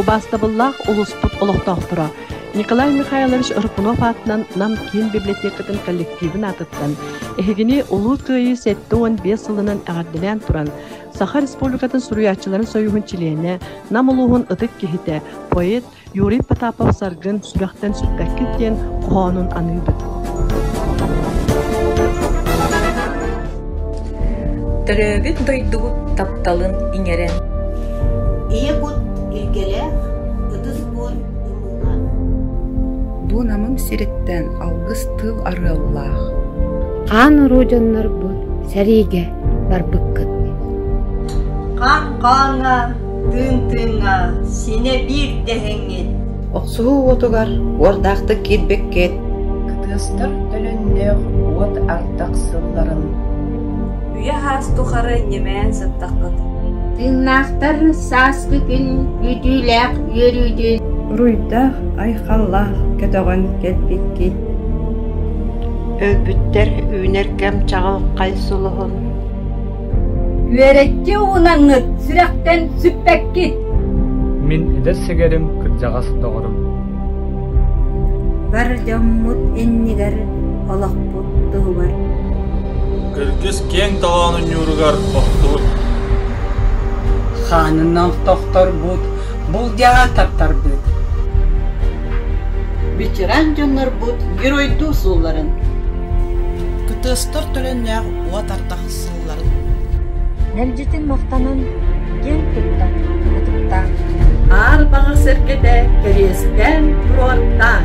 Убаастабыллаах улууспут олохтоохторо! Николай Михайлович Рыпунов аатынан Нам киин библиотекатын коллективин аатыттан эһигини Улуу Кыайыы сэттэ уон биэс сылынан эҕэрдэлээн туран Саха Республикатын суруйааччыларын союһун чилиэнэ, Нам улууһун ытык киһитэ, поэт, Юрий Потапов-Саргын сүрэхтэн сүппэккит диэн хоһоонун аныыбыт. Төрөөбүт дойдубут тапталын иҥэрэн. Ийэ кут илгэлээх, ытыс буор ымыыга. Бу Намым сириттэн алгыс тыл арыаллаах. Хаан уруу дьоннорбут сэриигэ барбыккыт. Хаан хааҥҥа Тыын тыыҥҥа синэ биир дэһиҥҥит. Охсуһуу уотугар уордаахтык киирбэккит. Кытыастар төлөннөөх уот ардах сылларын. Үйэ аас тухары ньэмээн сыттаххыт. Тыыннаахтар сааскы күн күүтүүлээх үөрүүдүн. Уруйдаах, айхаллаах көтөҕөн кэлбиккит. Өлбүттэр үүнэр кэм чаҕылхай сулуһун. Үөрэччи уунаҥҥыт сүрэхтэн сүппэккит. Мин эдэр сэгэрим, кырдьаҕас доҕорум. Бар дьоммут иннигэр олохпут туһугар. Кыргыс киэҥ таһаҕын ньууругар охтубут. Хаанынан тохторбут, булдьаҕа таптарбыт. Ветеран дьоннорбут геройдуу суолларын. Кытыастар төлөннөөх уот ардах Мэлдьитин махтанан киэн туттан ытыктаан Аар Баҕа сэргэтэ кэриэстээн туруортаан